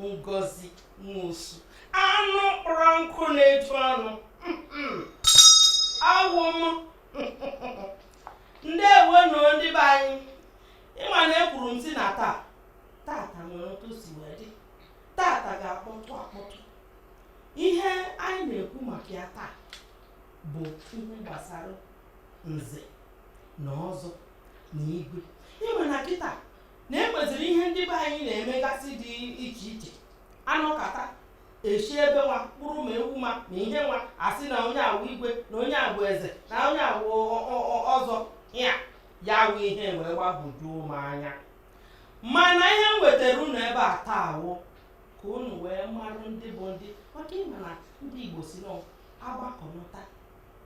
ngozi nwosu anụ kpọrọ nkụ na-eju ọnụ awụ m ndeewo nụ ndị be anyị ị ma na ekwuru m sị na taa tata nwere otu o si wee dị tata ga-akpọtụ akpọtụ ihe anyị na-ekwu maka ya taa bụ ihe gbasara nze na ọzọ na igwe ị ma na kịta na e nweziri ihe ndị be anyị na-emegasị dị iche iche a nọkata e chie ebe nwa kpụrụ ma ewu ma na ihe nwa a sị na onye a wụ igwe na onye a wụ eze na onye a wụ ọ- ọ- ọ- ọzọ ya ya awụ ihe wee gbagwojuo m anya mana ihe m wetara unu ebe a taa wụ ka unu wee marụ ndị bụ ndị maka ị ma na ndị igbo sị nọ agbakọnata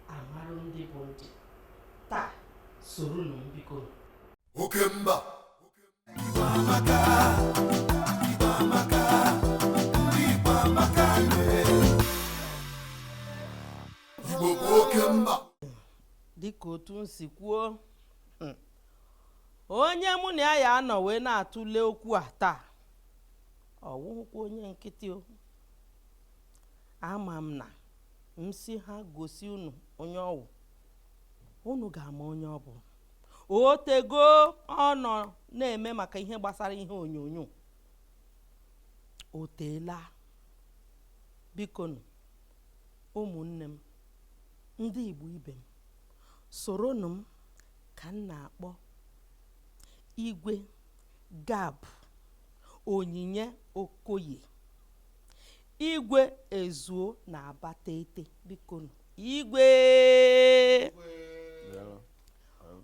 a marụ ndị bụ ndị taa soronụ m biko oke mba igbo bụ oke mba dịka otu m si kwuo mm, onye mụ na ya ya-anọ wee na-atụle okwu a taa ọ wụhụkwa onye nkịtị o ama m na m sị ha gosi unu onye ọ wụ unu ga-ama onye ọ bụ o tego ọ nọ na-eme maka ihe gbasara ihe onyonyo o teela bikonu ụmụnne m ndị Igbo ibe m soronụ m ka m na-akpọ igwe gab onyinye okoye igwe ezuo na abatete bikonu igwe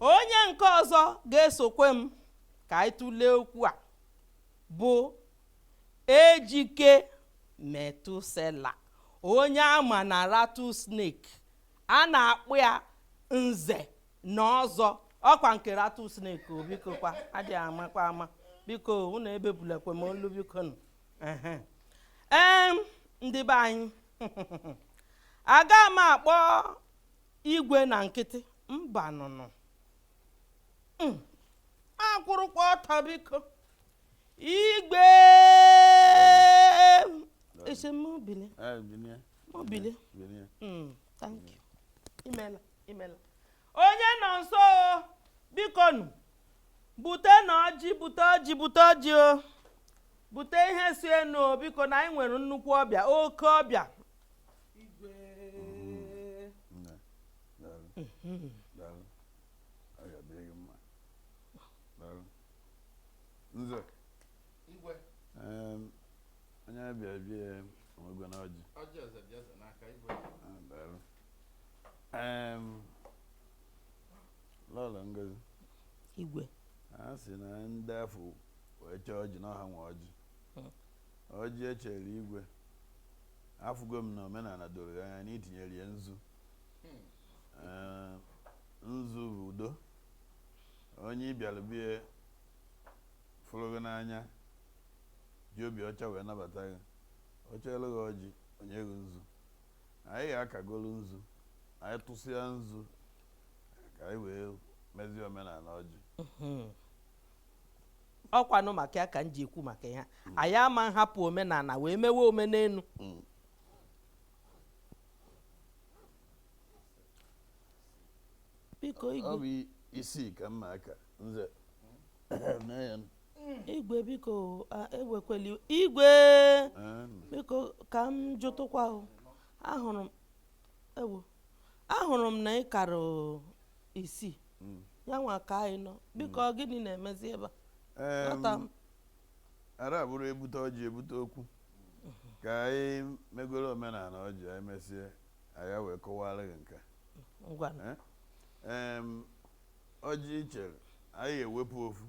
onye nke ọzọ ga-esokwe m ka anyị tụlee okwu a bụ ejike methuselah onye a ma na rattlesnake a na-akpọ ya nze na ọzọ ọ kwa nke rattlesnake o biko kwa a dịghị amakwa ama biko unu ebebulekwe m olu biko nụ ehe em ndị be anyị aga m akpọ igwe na nkịtị mba nụnụ hmm. akwụrụkwa ọtọ biko igwe asị m bili m bili thank you imela imela onye nọ nso o bikonụ butenụ ọjị bute ọjị bute ọjị o bute ihe si enu o biko na anyị nwere nnukwu ọbịa oke ọbịa igwe Nne, daalụ. Daalụ. Ọ ga-adịrị gị mma. Daalụ. Nze, igwe em, onye ọbịa bịa onwego na ọjị. ọjị eze dị eze n'aka igwe Ah, Daalụ. lọlọ ngozi igwe a sị na ndị afụ wee chee ọjị na ọ ha nwe ọjị hmm. ọjị echere igwe afụgo m na omenala doro gị anya na itinyere ya nzu hmm. nzu bụ udo onye ịbịara bie fụrụ gị n'anya ji obi ọcha wee nabata gị o cheelụ gị ọjị o nye gị nzu anyị ga-akagolu nzu anyị tụsịa nzu ka anyị wee mezie omenala ọjị mhm. ọkwanụ maka ya ka m ji ekwu maka ya mm. anyị ama nhapụ omenala wee mewe omenelu mm. biko ọ bụ isii ka m na-aka nze igwe biko ewekwela iwe igwe biko ka m jụtụkwa ahụrụ m ewo ahụrụ m na ị kara isii mm. ya nwa ka anyị nọ biko mm. gịnị na-emezi ebe a ara abụrụ ebute ọjị ebute okwu ka anyị megoro omenala ọjị anyị mesie anyị wee kọwara gị nke Ọjị i chere, anyị ga-ewepụ ofu.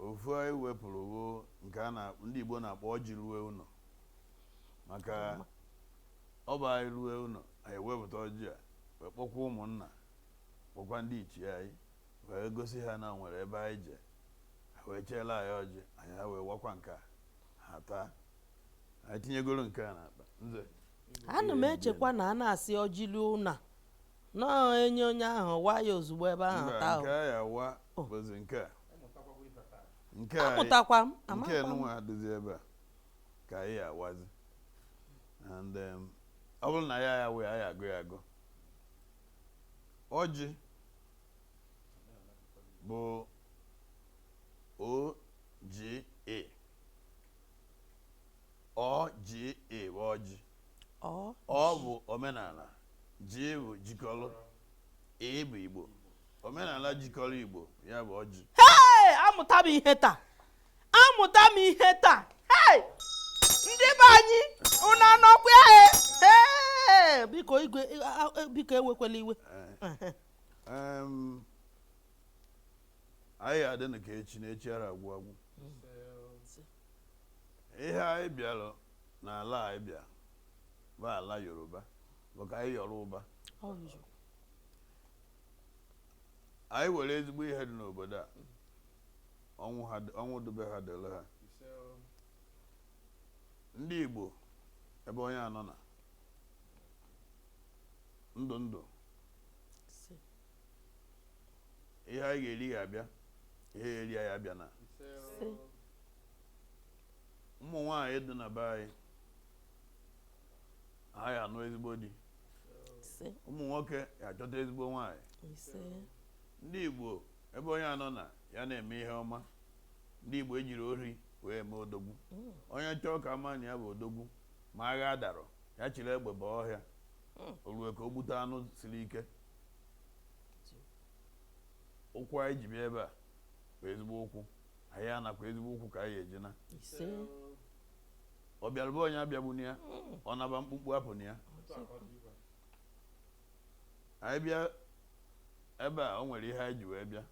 Ofu anyị wepụrụ bụ nke ndị Igbo na-akpọ ọjị rue ụlọ. Maka ọ bụ anyị rue ụlọ, anyị ewepụta ọjị a wee kpọkwa ụmụnna kpọkwa ndị ichie anyị wee gosi ha na o nwere ebe anyị je ha wee cheela anyị ọjị anyị ha wee wakwa nke a ha taa anyị tinyegoro nke a n'akpa nze ana m echekwa na a na-asị ọjị rue ụlọ na enye onye ahụ wa ya ozugbo ebe ahụ Mba, taa nke a ya-awa bụzi nke a nke a amụtakwa m nke nunwa dịzi ebe a ka anyị ya-awazi and um, ọ bụrụ na anyị ya-awa anyị agụ ya agụ ọjị bụ oga ọ ji ị bụ ọjị ọ ọ bụ omenala ji bụ jikọrọ ị bụ igbo omenala jikọrọ igbo ya bụ ọjị Hey! amụta m ihe taa amụta m ihe taa Hey! ndị be anyị ụnụ anọkwa ya e? Hey! biko igwe a- a- biko ewekwala iwe Em, anyị ya-adịnụ ka echi na echi ara agwụ agwụ ihe anyị bịara n'ala anyị bịa bụ ala yoruba bụ ka anyị yọrọ ụba anyị were ezigbo ihe dị n'obodo a ọnwụ dị be ha dịrị ha ndị igbo ebe onye anọna ndụ ndụ ihe anyị ga-eri ga-abịa ihe ya eri anyị abịana ụmụ nwaanyị dị na be anyị ha ya anụ ezigbo di ụmụ nwoke ya achọta ezigbo nwaanyị ndị Igbo ebe onye anọna ya na-eme ihe ọma ndị Igbo ejirọ ori wee mee odogwu mm. onye chọọ ka a ma na ya bụ odogwu ma agha adarọ ya chịrị egbe baa ọhịa mm. o ruo ka o gbute anụ siri ike ụkwụ anyị ji bịa ebe a bụ ezigbo ụkwụ anyị anakwa ezigbo ụkwụ ka anyị eji na ọ bịarụ be onye abịagbuna ya ọ naba mkpukpu apụna ya anyị bịa ebe a o nwere ihe anyị ji wee bịa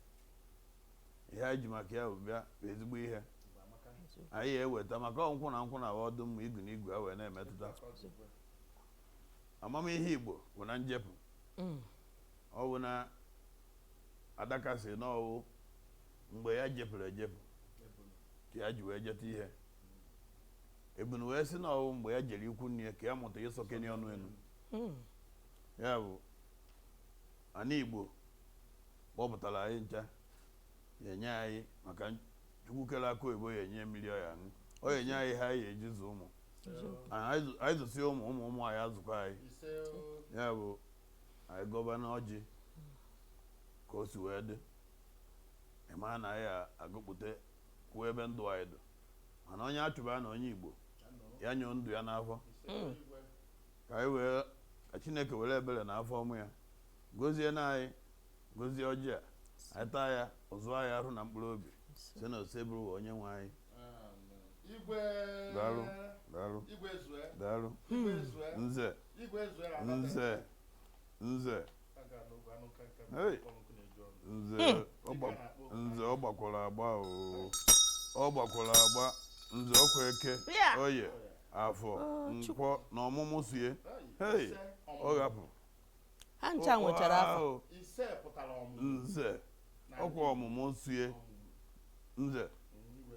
ihe anyị ji maka ya bịa bụ ezigbo ihe anyị eweta maka ọ nkwụ na nkwụ na-awa ọdụ mma igu na igu ewee na-emetụta amamihe Igbo bụ na njepụ mm. ọ bụ na adaka sị na ọ wụ mgbe ya jepụrụ ejepụ ka ya ji wee jeta ihe ebunu wee sị na ọ wụ mgbe ya jere ikwu nne ya ka ya mụta ịsọkeni ọnụ enu mm. ya bụ ana Igbo kpọpụtara anyị ncha ya enye anyị maka chukwu kere akụ oyibo ya enye mmiri ọ ya aṅụ ọ ya enye anyị ihe anyị eji zụ ụmụ anyị zụsịa ụmụ ụmụ ụmụ anyị azụkwa anyị ya bụ anyị gọbanụ ọjị ka o si wee dị ịma na anyị agọpụta kwuo ebe ndụ anyị dị mana onye achụba na onye igbo ya nyụọ ndụ ya n'afọ hmm. ka anyị wee ka chineke were ebere na afọ ọma ya gozie na anyị gozie ọjị a anyị taa ya ọ zụọ anyị arụ na mkpụrụ obi si na Osebụrụwa onye nwe anyị igwe daalụ daalụ igwe zue daalụ igwe zue nze igwe zue na anata nze nze aga n'ogbe anụ nka nka Hey. kpọrọ nkụ na-eju ọnụ nze ọ gba- nze ọ gbakwara agba o ọ gbakwara agba nze ọ kwa eke Bịa. oye afọ nkwọ na ọmụmụ sie Hey. hei ọ ghapụ ha ncha nwechara afa Ahụ, ise pụtara ọmụmụ nze ọ kwa ọmụmụ sie nze igwe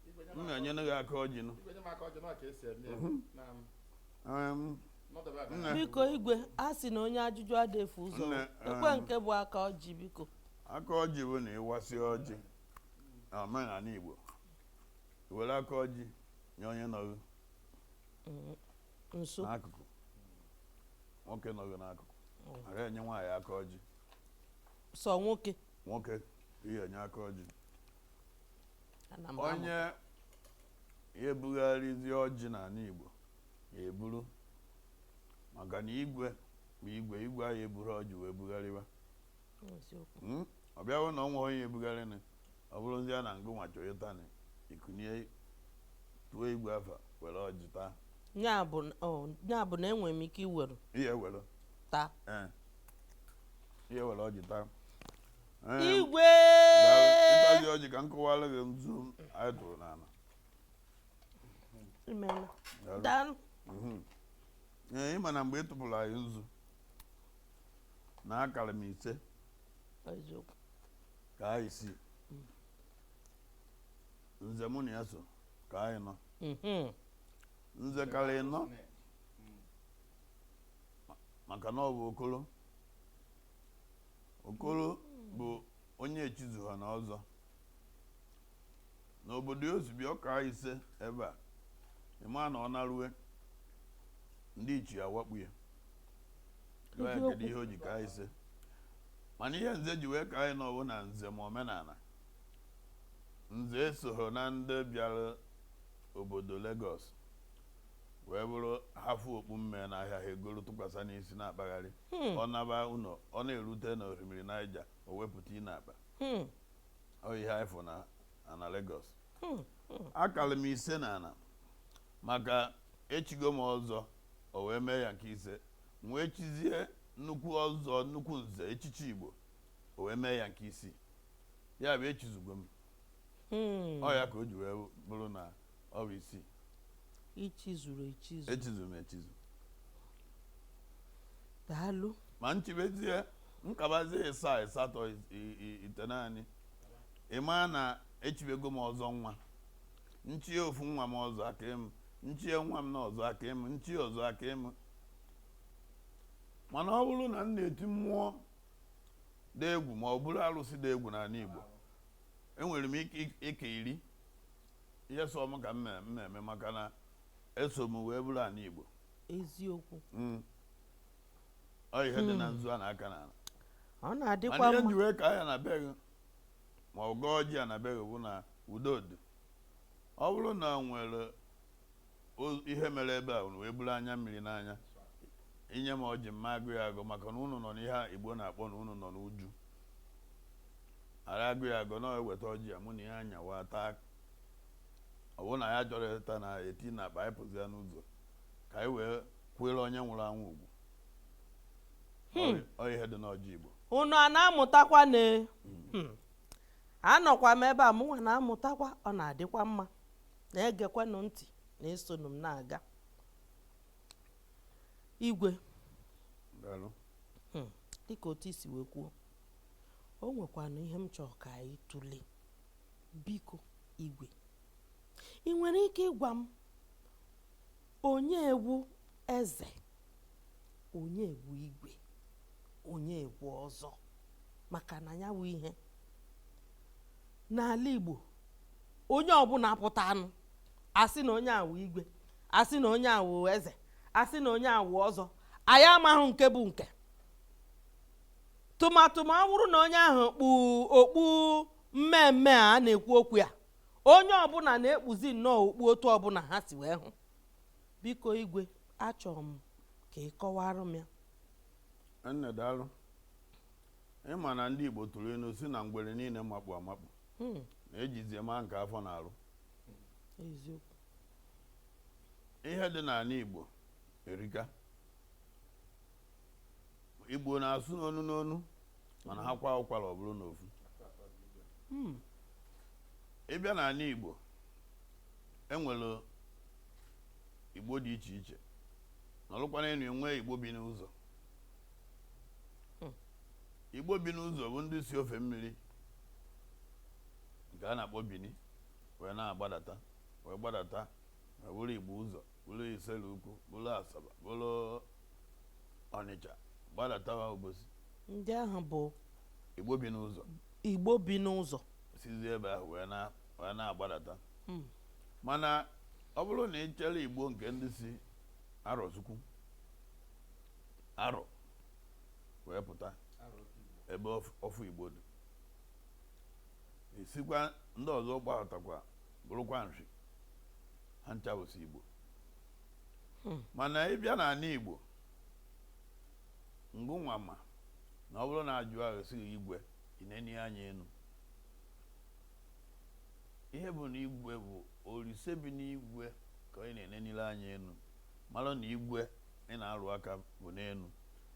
igwe nye m m aka- na-enyere gị aka ọjị nụ igwe nye m aka ọjị na ọ ka esi eme ya na m Em, nọdebe ebe Nne. a. biko igwe a sị na onye ajụjụ ada efu ụzọ Nne, ekwe um, nke bụ aka ọjị biko aka ọjị bụ na ị wasị ọjị na omenana Igbo i were aka ọjị nye onye nọ gị nso n'akụkụ nwoke nọ gị n'akụkụ ara enye nwaanyị aka ọjị sọ nwoke nwoke ị ya enye aka ọjị ana m amụ. onye ya ebugharịzi ọjị n'ana Igbo ya eburu maka na igwe bụ igwe igwe aya eburu ọjị wee bugharịwa hmm? ọ bịa wụ na o nwerọ onye ebugharịnị ọ bụrụzi ya na ngụ nwa chọ ịtanị i kunie tuo igwe afa were ọjị taa ya bụ na enwere m ike iwere ihe were taa eh. ihe were ọjị taa eh. igwe ịtazi ọjị ka m kọwara gị nzu anyị tụrụ n'ana daalụ mhm. eh, ị ma na mgbe ị tụpụrụ anyị nzu na akara m ise eziokwu kaa isii nze mụ na ya so kaa ịnọ Mhm. nze kara ịnọ maka na ọ bụ okoro okoro bụ onye echizuhana ọzọ n'obodo o si bịa ọ kaa ise ebe a ị maa na ọ narue ndị ichie awakpu ya Jụọ ya kedu ihe o ji kaa ise mana ihe nze ji wee kaa ịnọ wụ na nze ma omenana nze esoghị na ndị bịara obodo Lagos wee bụrụ ha fụ okpu mmee n'ahịa ha egoro tụkwasị n'isi na-akpagharị ọ naba ụnọ ọ na-erute na orimiri Naija o wepụta ya n'akpa ihe anyị fụ na ana Lagos hmm, hmm. akara m ise na ana maka echigo m ọzọ o wee mee ya nke ise wee chizie nnukwu ọzọ nnukwu nze echichi Igbo o wee mee ya nke isii ya bụ echizugo m hmm. ọ ya ka o ji wee bụrụ na ọ bụ isii ichizuru echizu echizuru m echizu daalụ ma nchibezie nkabazi ịsaa ịsatọ i- i- i- itenaanị ịma na echibego m ọzọ nwa nchie ofu nwa m ọzọ aka m nchie nwa m na ọzọ aka m nchie ọzọ aka m mana ọ bụrụ na m na-eti mmụọ dị egwu ma ọ bụrụ arụsị dị egwu n'ala Igbo enwere m ike ike iri ihe sọ m ka m me- m na-eme maka na eso m wee buru ana igbo eziokwu Mm. ọ ihe dị na nzu a na-aka n'ala ọ mana na-adịkwa ihe mma nji wee ka ya na be gị ma ọ gọọ ọjị a na be gị bụ na udo dị ọ bụrụ na o nwere O- ihe mere ebe a unu wee buru anya mmiri n'anya i nye m ọjị mma agọ ya agọ maka na unu nọ n'ihe a igbo na-akpọ na unu nọ n'uju ara agọ ya agọ na eweta ọjị ya mụ na ya anyawa taa ọ bụrụ na ya chọrọ ịta na eti n'akpa anyị pụzi ya n'ụzọ ka anyị wee kwanyere onye nwụrụ anwụ ugwu Ọ- ọ ihe dị n'ọjị igbo unu a na-amụtakwa na Hmm. anọkwa m ebe a mụnwa na-amụtakwa ọ na-adịkwa mma Na-egekwanụ ntị na-esonụ m na-aga. Igwe. Daalụ. Hmm. Dịka otu i si wee kwuo, o nwekwanụ ihe m chọrọ ka anyị tụlee. Biko, Igwe. Ị nwere ike ịgwa m onye wụ eze onye wụ igwe onye wụ ọzọ maka na ya wụ ihe n'ala Igbo onye ọbụla pụtanụ a sị na onye a wụ igwe a sị na onye a wụ eze a sị na onye a wụ ọzọ anyị amaghị nke bụ nke tụmadụ ma ọ bụrụ na onye ahụ kpu okpu mmemme a na-ekwu okwu ya onye ọbụla na-ekpuzi nnọọ okpu otu ọbụla ha si wee hụ biko igwe achọrọ m ka ị kọwara m ya nne daalụ ịma na ndị igbo tụrụ inu sị na ngwere niile makpu amakpu hmm. na ejizie ma nke afọ na-arụ ihe dị n'ala igbo erika igbo na-asụ n'onu n'onu mana ha kwaa ụkwara ọ bụrụ n'ofu hmm. ị bịa n'ala igbo enwere igbo dị iche iche nọrụkwa n'enu enwee igbo bi n'ụzọ hmm. igbo bi n'ụzọ bụ ndị si ofe mmiri nke a na-akpọ bini wee na-agbadata wee gbadata wee bụrụ igbo ụzọ bụrụ Isele Ukwu bụrụ Asaba bụrụ Ọnịcha gbadatawa Obosi ndị ahụ bụ Igbo bi n'ụzọ Igbo bi n'ụzọ sizi ebe ahụ wee na- wee na-agbadata Mm. mana ọ bụrụ na ị chere Igbo nke ndị si Arọchukwu Arọ wee pụta ebe ọf- ọfụ Igbo dị isikwa ndị ọzọ gbadatakwa bụrụkwa Nri ha ncha bụsi igbo hmm. mana ị bịa n'anị Igbo ngịnwa ma na ọ bụrụ na a jụọ a sị gị igwe ị nenie anya enu ihe bụ na igwe bụ Olise bi n'igwe ka ị na-enenili anya enu malụ na igwe ị na-arụ aka bụ n'enu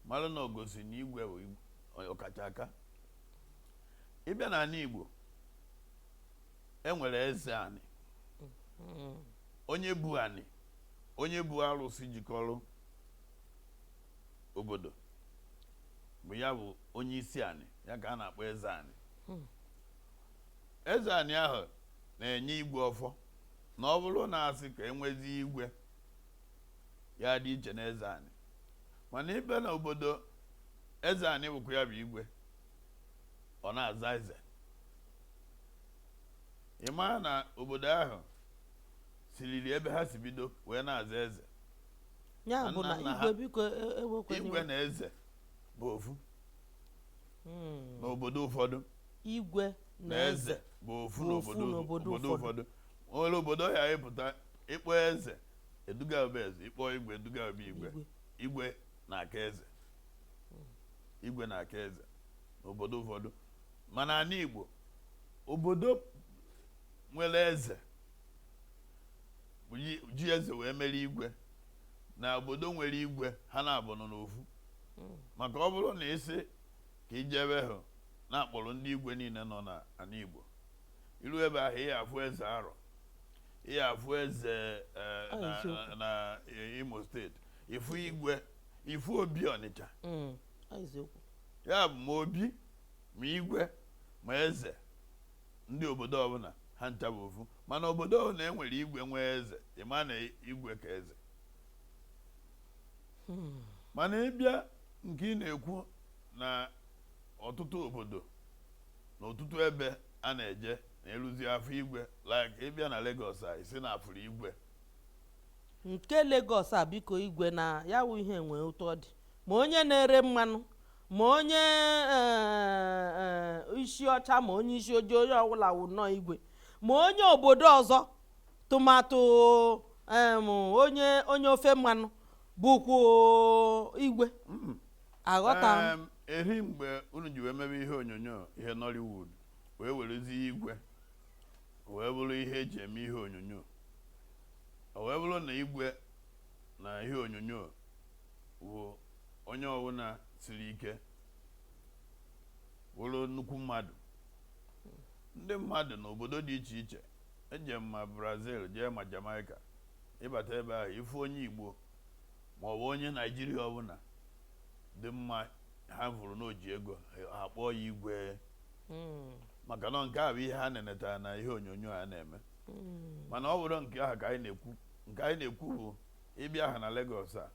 malụ na o gosi na igwe bụ ọkacha aka ị bịa n'anị Igbo e nwere eze anị mm-hmm. onye bu anị onye bu arụsị jikọrọ obodo bụ ya bụ onye isi anị ya ka a na-akpọ eze anị hmm. eze anị ahụ na-enye igwe ọfọ na ọ bụrụ na a sị ka e nwezie igwe ya dị iche na eze anị mana ị bịa na obodo eze anị bụkwa ya bụ igwe ọ na-aza eze ị maa na obodo ahụ siriri ebe ha si bido wee na-aza eze ya Na bụ nna na nna ha- igwe biko e- ewekwana igwe iwe. na eze bụ ofu Mm. n'obodo ụfọdụ igwe na eze bụ ofu bụ ofu n'obodo n'obodo obodo ụfọdụ. ụfọdụ o nwere obodo ị ya-apụta ị kpọọ eze e duga gị be eze ị kpọọ igwe e duga gị be igwe igwe igwe na-aka eze igwe na-aka eze n'obodo ụfọdụ ma n'anị Igbo obodo nwere eze ji eze wee mere igwe na obodo nwere igwe ha na-abụnụ n'ofu maka ọ bụrụ na ị sị ka i jebe hụ na a kpọrọ ndị igwe niile nọ n'anị Igbo i ru ebe ahụ ị ya-afụ eze Arọ ị ya-afụ eze eh, na Imo steeti ị fụ igwe ị fụ Obi Ọnịcha mm, ya bụ ma obi ma igwe ma eze ndị obodo ọbụla ha ncha bụ ofu mana obodo ọbụla e nwere igwe nwee eze ị maa na igwe ka eze hmm. mana ị bịa nke ị na-ekwu na ọtụtụ obodo na ọtụtụ ebe a na-eje na-eruzi afọ igwe like ị bịa na Lagos a ị sị na a fụrụ igwe nke Lagos a biko igwe na ya wụ ihe nwee ụtọ dị ma onye na-ere mmanụ ma onye eh, eh, isi ọcha ma onye isi ojii onye ọbụla wụ nnọọ igwe ma onye obodo ọzọ tụmatụ em, onye onye ofe mmanụ bụkwa igwe aghọta m Em, eri mgbe unu ji wee mebe ihe onyonyo ihe nollywood wee werezie igwe o wee bụrụ ihe eji eme ihe onyonyo o wee bụrụ na igwe na ihe onyonyo wụ onye ọbụla siri ike wụrụ nnukwu mmadụ ndị mmadụ n'obodo dị iche iche e jee ma brazil jee ma jamaica ịbata ebe ahụ ifu onye igbo ma ọ bụ onye naijiria ọbụla dị mma ha vụrụ na o ji ego ha kpọọ ya igwe maka na nke a bụ ihe ha nenetara na ihe onyonyo a na-eme mana ọ bụrọ nke ahụ ka anyị na-ekwu nke anyị na-ekwu bụ ịbịa ha na Lagos a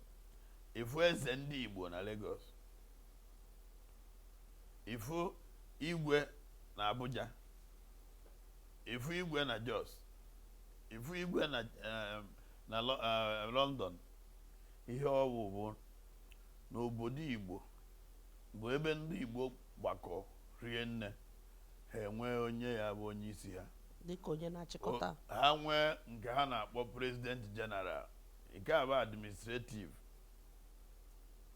ifu eze ndị Igbo na Lagos ifu igwe na Abuja ifu igwe na Jos ifu igwe na eh, na eh, London ihe ọwụ bụ n'obodo Igbo bụ ebe ndị Igbo gbakọ rie nne ha enwee onye ya-abụ onye isi ha dịka onye na-achịkọta ha nwee nke ha na-akpọ president general nke a bụ administrative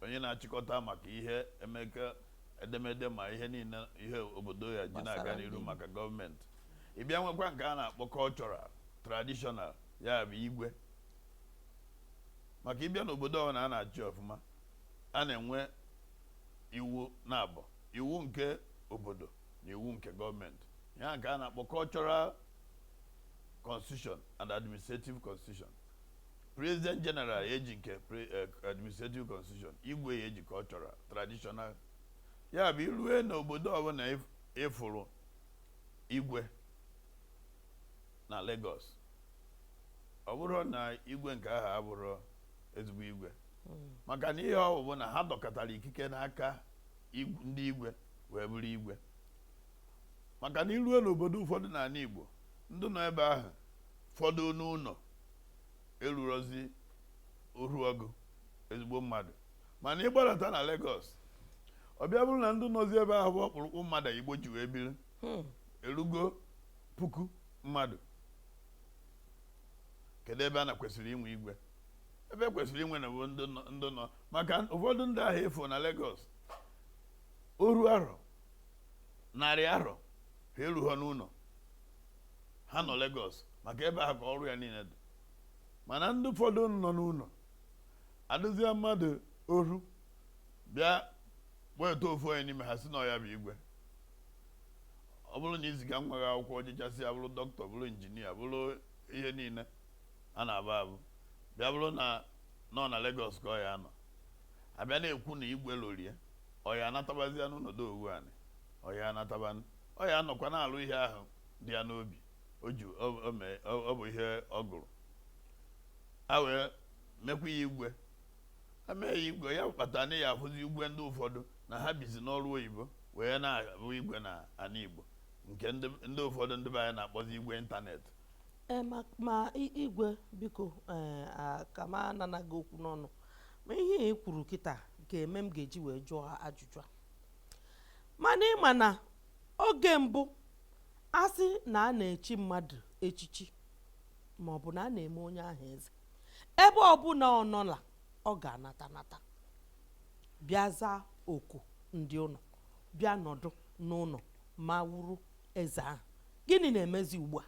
onye na-achịkọta maka ihe emeka edemede ma ihe niile ihe obodo ya-eji na-aga n'iru maka gọọmenti ị bịa nwekwa nke a na-akpọ cultural traditional ya bụ igwe maka ịbịa n'obodo ọbụla a na-achị ọfụma a na-enwe iwu naabọ iwu nke obodo na iwu nke gọọmenti ya nke a na-akpọ cultural constitution and administrative constitution president general ya-eji nke pre- eh, administrative constitution igwe ya-eji cultural traditional ya bụ irue n'obodo ọbụla ịf- ịfụrụ igwe na Lagos ọ bụrụ na igwe nke ahụ abụrụ ezigbo igwe maka na ihe ọ bụ bụ na ha dọkọtara ikike n'aka ndị igwe wee bụrụ igwe maka na irue n'obodo ụfọdụ n'anị Igbo ndị nọ ebe ahụ fọdụ n'ụnọ erurozi oru ọgụ ezigbo mmadụ mana ịgbalata na Lagos ọ bịa bụrụ na ndị nọzi ebe ahụ bụ ọkpụrụkpụ mmadụ Igbo ji wee biri hmm. erugo puku mmadụ kedu ebe a na kwesịrị inwe igwe ebe kwesịrị inwe na bụ ndị nọ maka ụfọdụ ndị ahụ efuo na Lagos oru arọ narị arọ ha erughọ n'ụlọ ha nọ Lagos maka ebe ahụ ka ọrụ ya niile dị mana ndị ụfọdụ nọ n'ụlọ adịzie mmadụ oru bịa weta ofu onye n'ime ha sị na ọ ya bụ igwe ọ bụrụ na i ziga nwa gị akwụkwọ o jechasịa bụrụ dọkịta bụrụ injinia bụrụ ihe niile a na-abụ abụ bịa bụrụ na ọ na Lagos ka ọ ya anọ a bịa na-ekwu na igwe lorie ọ ya anatabazia n'ụlọ do owu anị ọ ya anatabanụ ọ ya anọkwa na-alụ ihe ahụ dị ya n'obi o ji ọ bụ ihe ọ gụrụ a wee mekwa ya igwe e mee ya igwe ya kpata na ya afụzi igwe ndị ụfọdụ na ha bizi n'ọrụ oyibo wee na-abụ igwe na ana igbo nke ndị ụfọdụ ndị be anyị na-akpọzi igwe ịntanetị Ee, ma ma i- igwe biko ee, a- ka m anana gị okwu n'ọnụ ma ihe ị kwuru kịta ga-eme m ga-eji wee jụọ ajụjụ a mana ị ma na oge mbụ a sị na a na-echi mmadụ echichi ma ọ bụ na a na-eme onye ahụ eze ebe ọbụla ọ nọla ọ ga-anata nata bịa zaa oku ndị ụlọ bịa nọdụ n'ụlọ ma wuru eze ahụ gịnị na-emezi ugbu a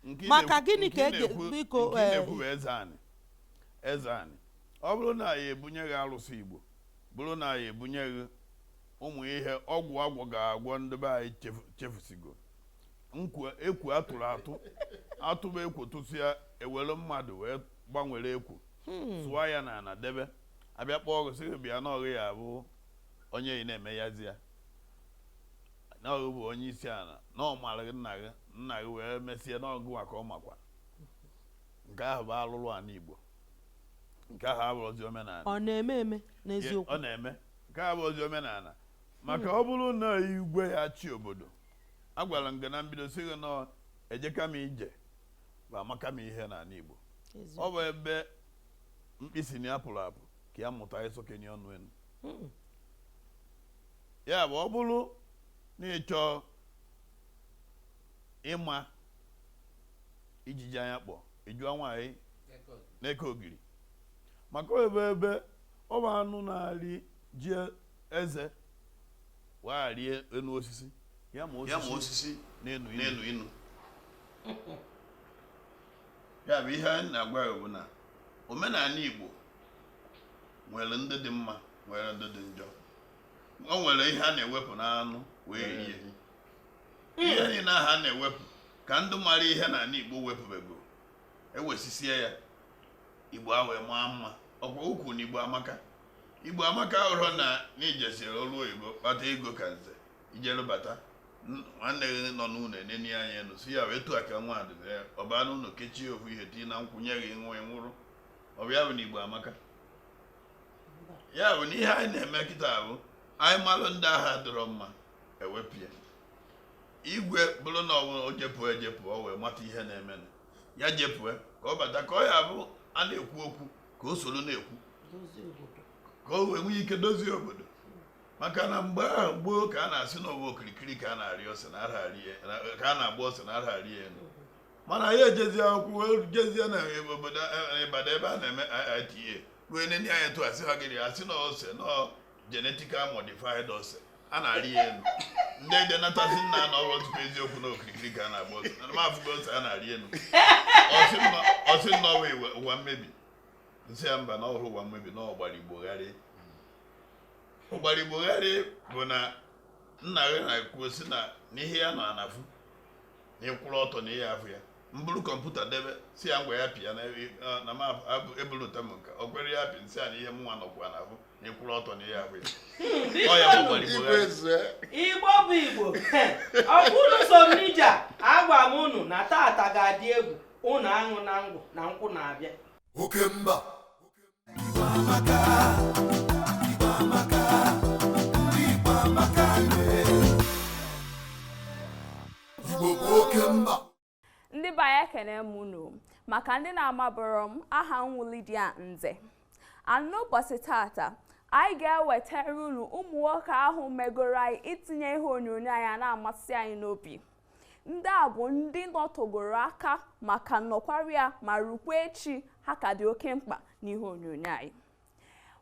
Nke ị Maka na-ekwu- gịnị nke ka ị e ga- na-ekwu- biko, nke ị eh, na-ekwu bụ eze anị eze anị ọ bụrụ na a ya ebunye gị alụsị Igbo bụrụ na a ya ebunye gị ụmụ ihe ọgwụ agwọ ga-agwọ ndị be anyị chefu- chefusigo na ekwu a tụrụ atụ a tụba ekwu tụsịa e were mmadụ wee gbanwere ekwu sụọ ya n'ala debe a bịa kpọọ gị sị gị bịa na ọ gị ya abụ onye ị na-eme yazi ya na ọ gị bụ onye isi ala na ọ mara gị nna gị nna gị wee mesie na ọ gịwa ka ọ makwa nke ahụ bụ alụlụ ana Igbo nke ahụ abụrọzi omenala ọ na-eme eme n'eziokwu ọ na-eme nke ahụ abụrọzi omenala maka ọ bụrụ na igwe ya achị obodo agwara m gị na mbido sị gị na ejeka m ije bụ amaka m ihe n'ala Igbo ọ bụ ebe mkpi sị na ya pụrụ apụ ka ya mụta ịsọkenye ọnụ enu hmm. ya bụ ọ bụrụ na ị chọọ ịma ijiji anya kpọ ị jụọ nwaanyị na-eke ogiri maka ebe ebe ọ bụ anụ na-arị ji eze wee arị enu osisi ya ma osisi na-enu inu ya bụ ihe na-agwa ya bụ na omenala Igbo nwere ndị dị mma nwere ndị dị njọ o nwere ihe a na-ewepụ n'anụ wee rie ihe niile ahụ a na-ewepụ ka ndị mara ihe n'ala igbo wepụbego ewesisie ya igbo a wee maa mma ọkwa ukwu na igbo amaka igbo amaka ọ bụrọ na na i jesiri ọrụ oyibo kpata ego ka nze i jeru bata nwanne gị nọ n'ụlọ enenie anya enu sị ya wee tụọ aka nwa dịbịa ọ baa n'ụlọ kechie ofu ihe tii na nkwụ nye gị ṅụa ị nwụrụ ọ bụ ya bụ na igbo amaka ya bụ na ihe anyị na-eme kịta bụ anyị malụ ndị ahụ adịrọ mma e wepụ ya igwe bụrụ na ọ bụ o jepụ ejepụ o wee mata ihe na-eme ya jepụ ka ọ bata ka ọ ya-abụ a na-ekwu okwu ka o soro na-ekwu ka o wee nwee ike dozie obodo maka na mgbe ahụ gboo ka a na-asị na ọ bụ okirikiri ka a na-arị ose na ka a na-agba ose anarọ arị ya elu mana anyị ejezie akwụkwọ jezie na obodo Ibadan ebe a na-eme IITA ruo nene anya tụ asị ha gịrị asị na ose na genetically modified ose a na-arị ya elu ndị dị nata sị nna na ọ bụrọ eziokwu na okirikiri ka a na-agba ose na m afụgo ose a na-arị elu ọ sị na ọ bụ ụwa mmebi m sị ya mba na ọ bụrọ ụwa mmebi na ọgbara igbo gharị ọgbara igbo gharị bụ na nna gị na-ekwu sị na ihe ya nọ ana afụ na ị kwụrụ ọtọ na ị ya-afụ ya m buru kọmputa debe sị ya ngwa ya pịa na ebulụta m nke o kwerọ ya pịa m sị ya na ihe mụnwa nọkwa ana afụ na ị kwụrụ ọtọ na ị ya-afụ ya ọ ya gbakwara igbo ya igbo bụ igbo ọ bụ unu so n'ije agwa m unu na tata ga-adị egwu unu aṅụna ngwọ na nkwụ na-abịa oke mba ndị be anyị ekene m unu maka ndị na-amaburọ m aha m wụ Lydia Nze n'ụbọchị tata anyị ga-ewetara unu ụmụ nwoke ahụ megoro anyị itinye ihe onyonyo anyị a na-amasị anyị n'obi ndị a bụ ndị nọtegoro aka ma ka nọkwarị ya ma rukwa echi ha ka dị oke mkpa n'ihe onyonyo anyị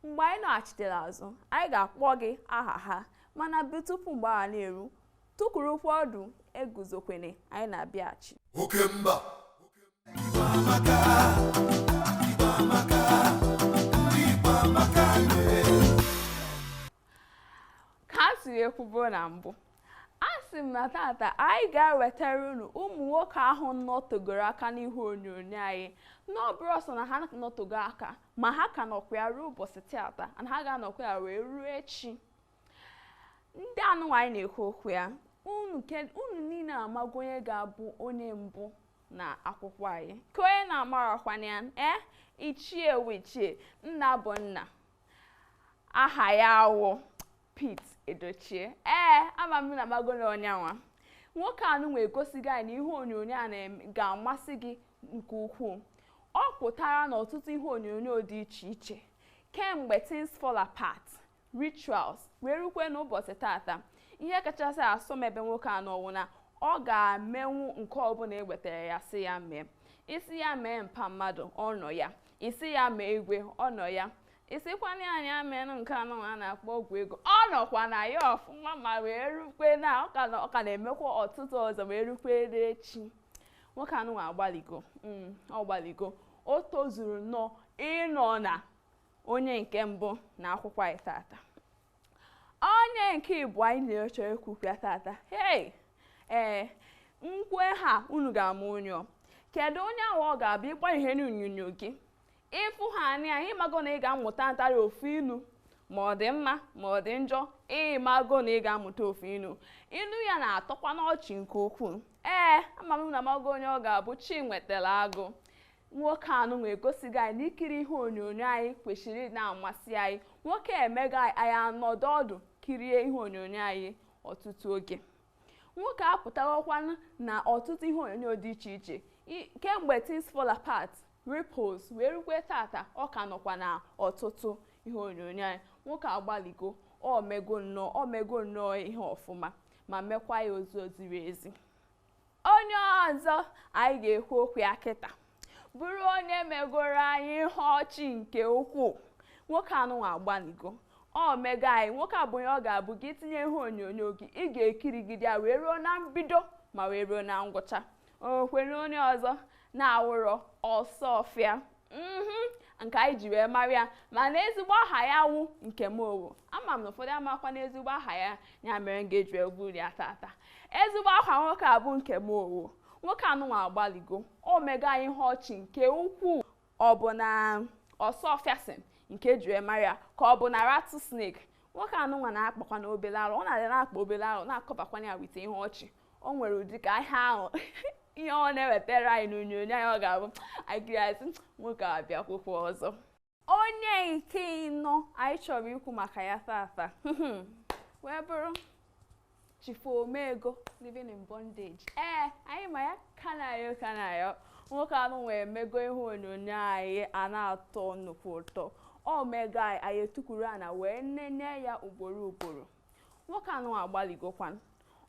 mgbe anyị nọghachitere azụ anyị ga-akpọ gị aha ha mana bụ tupu mgbe ahụ na-eru tukwurukwa ọdụ eguzokwene anyị na-abịaghachi oke mba ka a siri ekwubo na mbụ a sị m na tata anyị ga-ewetara unu ụmụ nwoke ahụ nọtogoro aka n'ihe onyonyo anyị n'ọ bụrọ sọ na ha nọtogo aka ma ha ka nọkwa ya ruo ụbọchị tata na ha ga-anọkwa ya wee ruo echi ndị anụnwa anyị na-ekwu okwu ya unu niile amago onye ga-abụ onye mbụ na akwụkwọ anyị kee onye na-amarakwana ya ee ichie wụ ichie nna bụ nna aha ya wụ Pete Edochie ee ama m na ị mago na ọ nyanwa nwoke anụnwa egosigo anyị na ihe onyonyo a ga-amasị gị nke ukwuu ọ pụtara n'ọtụtụ ihe onyonyo dị iche iche kemgbe things fall apart rituals wee rukwe n'ụbọchị tata ihe kachasị asọ m ebe nwoke a nọ wụ na ọ ga-emenwu nke ọbụla e wetara ya sị ya mee ị sị ya mee mpa mmadụ ọ nọ ya ị sị ya mee igwe ọ nọ ya ị sịkwana nya menụ nke anụ a na-akpọ ọgwụ ego ọ nọkwa na ya ọfụma ma wee rukwe na ọ ka na-emekwa ọtụtụ ọzọ wee rukwe echi nwoke anụnwa agbaligo mm, ọ gbaligo o tozuru nnọọ ịnọ na onye nke mbụ na akwụkwọ anyị tata onye nke ịbụa anyị na-achọ ikwu okwu ya tata hei ee nkwe ha unu ga-ama onye ọ kedu onye ahụ ọ ga-abụ ị gbanye ihe onyonyo gị ị fụ ha anya ị mago na ị ga-amụta ntarị ofu ilu ma ọ dị mma ma ọ dị njọ ị mago na ị ga-amụta ofu ilu ilu ya na-atọkwanụ ọchị nke ukwuu ee ama m na ị mago onye ọ ga-abụ Chiwetalu Agu nwoke anụnwa egosigo anyị na ikiri ihe onyonyo anyị kwesịrị na-amasị anyị nwoke a emego anyị anọdụ ọdụ kirie ihe onyonyo anyị ọtụtụ oge nwoke apụtawakwana na ọtụtụ ihe onyonyo dị iche iche kemgbe things fall apart ripples wee rukwe tata ọ ka nọkwa na ọtụtụ ihe onyonyo anyị nwoke agbaligo o mego nnọọ ihe ọfụma ma mekwa ya ozi ziri ezi onye ọzọ anyị ga-ekwu okwu ya kịta bụrụ onye megoro anyị ihe ọchị nke ukwuu nwoke anụnwa agbanigo ọ mego anyị nwoke a bụ onye ọ ga-abụ gị tinye ihe onyonyo gị ị ga-ekirigide ya wee ruo na mbido ma wee ruo na ngwụcha ọ kee onye ọzọ na-awụrọ Osuofia mhm nke anyị ji wee mara ya mana ezigbo aha ya wụ Nkem Owoh ama m na ụfọdụ amakwa n'ezigbo aha ya ya mere m ga-eji wee buru ya tata ezigbo aha nwoke a bụ Nkem Owoh nwoke anụnwa agbaligo o mego anyị ihe ọchị nke ukwuu ọ bụ na Osuofiason nke e ji wee mara ya ka ọ bụ na Rattlesnake nwoke anụnwa na-akpakwanụ obele arụ ọ na-adị na-akpa obele arụ na-akọbakwa ya with ihe ọchị o nwere ụdị ka ihe ahụ ihe ọ na-ewetara anyị n'onyonyo anyị ọ ga-abụ anyị kirie a sị nwoke a bịakwụkwọ ọzọ onye nke ịnọ anyị chọrọ ikwu maka ya tata wee bụrụ Chifu Omego living in bondage ee anyị ma ya Kanayo Kanayo nwoke anụwa emego ihe onyonyo anyị a na-atọ nnukwu ụtọ o mego anyị anyị etukwuru ana wee nene ya ugboro ugboro nwoke anụwa agbalịgokwan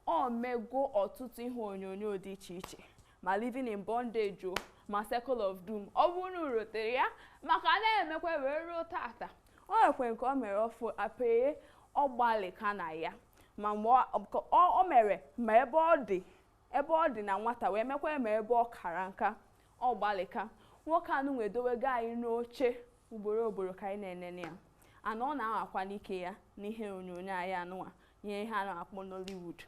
o mego ọtụtụ ihe onyonyo dị iche iche ma living in bondage o ma circle of doom ọ bụrụ na unu rotere ya ma ka na-emekwa wee ruo tata o nwekwe nke o mere ọfụ Apaye ọ gbalịka na ya ma mgbe ọ- ọ- o mere ma ebe ọ dị ebe ọ dị na nwata wee mekwa ma ebe ọ kara nka ọ gbalịka nwoke anụwa edowego anyị n'oche ugboro ugboro ka anyị na-enene ya and ọ na-anwakwanụ ike ya n'ihe onyonyo anyị anụwa ihe ihe a na-akpọ Nollywood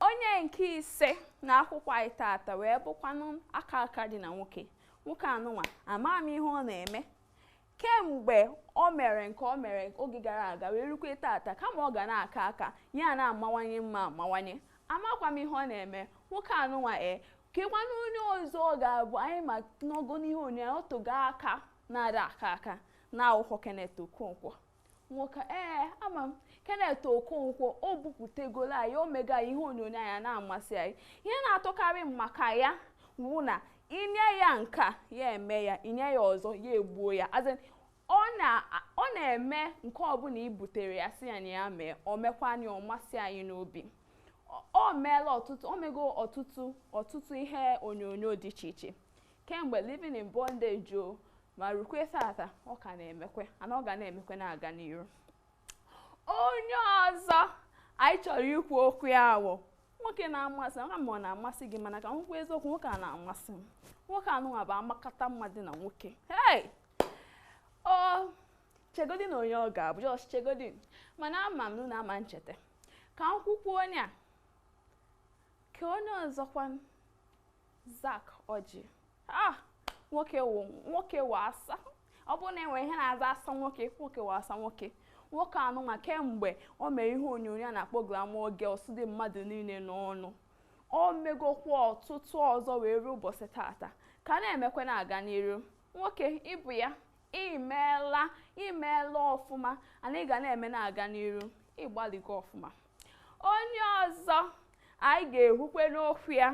onye nke ise na akwụkwọ anyị tata wee bụkwanụ aka aka dị na nwoke nwoke anụnwa ama m ihe ọ na-eme kemgbe o mere nke o mere oge gara aga wee rukwe tata kama ọ ga na-aka nka ya na-amawanye mma amawanye amakwa m ihe ọ na-eme nwoke anụnwa e kekwanụ onye ọzọ ọ ga-abụ anyị ma nọgo n'ihe onyonyo o tego aka na-ada aka aka na ọ wụkwa Kenneth Okonkwo nwoke ee ama m Kenneth Okonkwo o bupụtegoro anyị o mego ihe onyonyo anyị a na-amasị anyị ihe na-atọkarị m maka ya wụ na i nye ya nke a ya eme ya i nye ya ọzọ ya egbuo ya as in ọ na-eme nke ọbụla i butere ya sị ya na ya mee o mekwanụ ya ọ masị anyị n'obi o meela ọtụtụ o mego ọtụtụ ọtụtụ ihe onyonyo dị iche iche kemgbe living in bondage o ma rukwe tata ọ ka na-emekwe and ọ ga na-emekwe na-aga n'iru onye ọzọ anyị chọrọ ikwu okwu ya bụ nwoke na-amasị m ma ọ na-amasị gị mana ka m kwuo eziokwu nwoke a na-amasị m nwoke anụnwa bụ amakata mmadụ na nwoke hey o chegodinụ onye ọ ga-abụ just chegodinụ mana ama m na unu ama ncheta ka m kwukwu onye a Kee onye ọzọkwan Zack Orji. Ah! Nwoke wụ nwoke wụ asa. Ọ bụrụ na e nwere ihe na-aza asa nwoke, nwoke wụ asa nwoke. Nwoke anụnwa kemgbe o mere ihe onyonyo a na-akpọ Glamour Girls dị mmadụ niile n'ọnụ. O megokwa ọtụtụ ọzọ wee ruo ụbọchị tata. Ka na-emekwa na-aga n'iru. Nwoke ị bụ ya, ị meela, ị meela ọfụma, and ị ga na-eme na-aga n'iru. Ị gbalịgo ọfụma. onye ọzọ anyị ga-ekwukwenụ okwu ya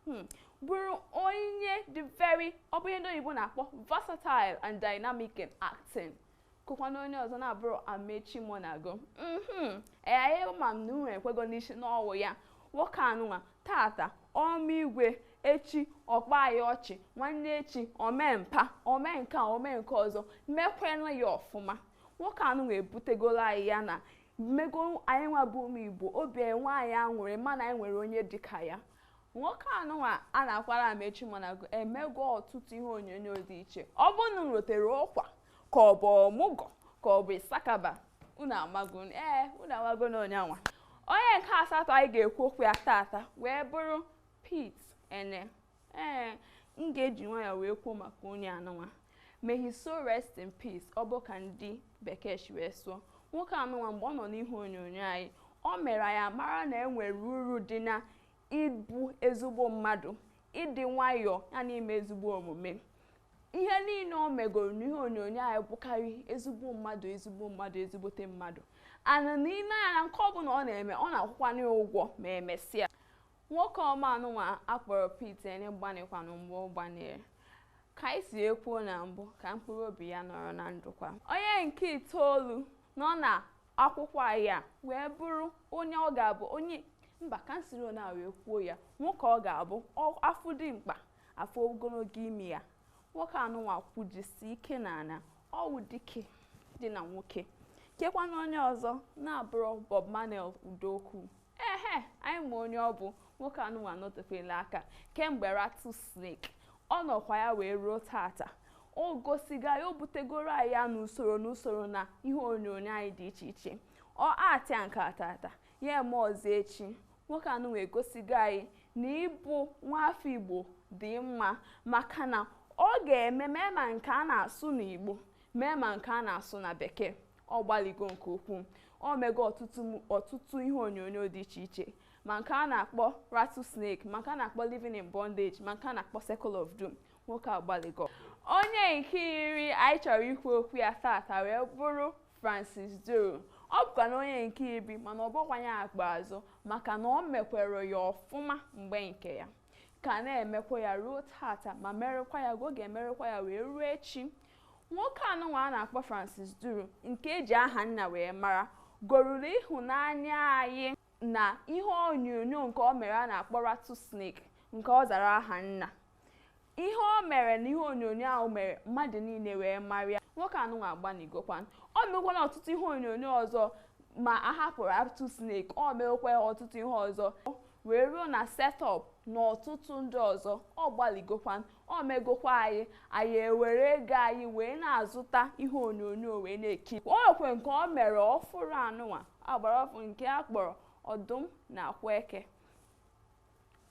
hmm, bụrụ onye dị very ọ bụ ihe ndị oyibo na-akpọ versatile and dynamic in acting kekwanụ onye ọzọ na-abụrọ amaechi muonagor mhm. ee anyị ma m na unu ekwego n'isi na ọ wụ ya nwoke anụnwa tata o mee igwe echi ọ kpaa anyị ọchị nwanne echi o mee mpa o mee nke a o mee nke ọzọ mekwenụ ya ọfụma nwoke anụnwa ebutegola anyị ya na o mego anyị nwa bụ ụmụ igbo obi enwe anyị aṅụrị mana anyị nwere onye dịka ya nwoke anụnwa a na-akpọ amaechi muonagor emego ọtụtụ ihe onyonyo dị iche ọ bụ unu rotere ụkwa ka ọ bụ ọmụgwọ ka ọ bụ issakaba unu amago ee unu amago na onye anwa onye nke asatọ anyị ga-ekwu okwu ya tata wee bụrụ Pete Eneh Ee, m ga-eji nwayọọ wee kwuo maka onye anụnwa. May his soul rest in peace, ọ bụ ka ndị bekee si wee sụọ. Nwoke anụnwa mgbe ọ nọ n'ihe onyonyo anyị, o mere anyị mara na e nwere uru dị na ịbụ ezigbo mmadụ, ịdị nwayọọ ya na ime ezigbo omume. Ihe niile o megoro n'ihe onyonyo anyị bụkarị ezigbo mmadụ, ezigbo mmadụ, ezigbote mmadụ. Ana na ile anya na nke ọbụla ọ na-eme, ọ na-akwụkwanụ ya ụgwọ ma emesịa. Nwoke ọma anụnwa a kpọrọ Pete Eneh gbanịkwanụ mgbe ọ gbanịrị ka anyị si wee kwuo na mbụ ka mkpụrụ obi ya nọrọ na ndokwa onye nke itoolu nọ na akwụkwọ anyị a wee bụrụ onye ọ ga-abụ onye mba ka m siri onye a wee kwuo ya nwoke ọ ga-abụ ọ- afụ dimkpa afụ ogologo imi ya nwoke anụnwa kwujisi ike na ana ọ wụ dike dị na nwoke kekwanụ onye ọzọ na-abụrọ Bob Manuel Udokwu ehe anyị ma onye ọ bụ nwoke anụnwa anọtefela aka kemgbe rattlesnake ọ nọkwa ya wee ruo tata o gosigo anyị o butegoro anyị ya n'usoro n'usoro na ihe onyonyo anyị dị iche iche ọ actịa nke a tata ya eme ọzọ echi nwoke anụnwa egosigo anyị na ịbụ nwafọ igbo dị mma maka na ọ ga-eme mee ma nke a na-asụ n'igbo mee ma nke a na-asụ na bekee ọ gbaligo nke ukwuu o mego ọtụtụ m- ọtụtụ ihe onyonyo dị iche iche ma nke a na-akpọ rattlesnake ma nke a na-akpọ living in bondage ma nke a na-akpọ circle of doom nwoke agbaligo onye nke iri anyị chọrọ ikwu okwu ya tata wee bụrụ francis duru ọ bụkwanụ onye nke iri mana ọ bụrọkwanụ ya kpa azụ maka na o mekwere ya ọfụma mgbe nke ya ka na-emekwa ya ruo tata ma merekwa ya ka ọ ga-emerekwa ya wee ruo echi nwoke anụnwa a na-akpọ Francis Duru nke eji Ahanna wee mara goruru ịhụnanya anyị na ihe onyonyo nke o mere a na-akpọ Rattle Snake nke ọ zara Ahanna ihe o mere na ihe onyonyo ahụ mere mmadụ niile wee marịa nwoke anụnwa agbanịgokwanụ o mekwana ọtụtụ ihe onyonyo ọzọ ma a hapụrụ Rattle Snake o mekwa ọtụtụ ihe ọzọ wee ruo na Set Up na ọtụtụ ndị ọzọ ọ gbalịgokwan o megokwa anyị anyị ewere ego anyị wee na-azụta ihe onyonyo wee na-ekiri o nwekwe nke o mere ọfụrụ anụnwa a gbara ọfụụ nke a kpọrọ Ọdụm na Akwa Eke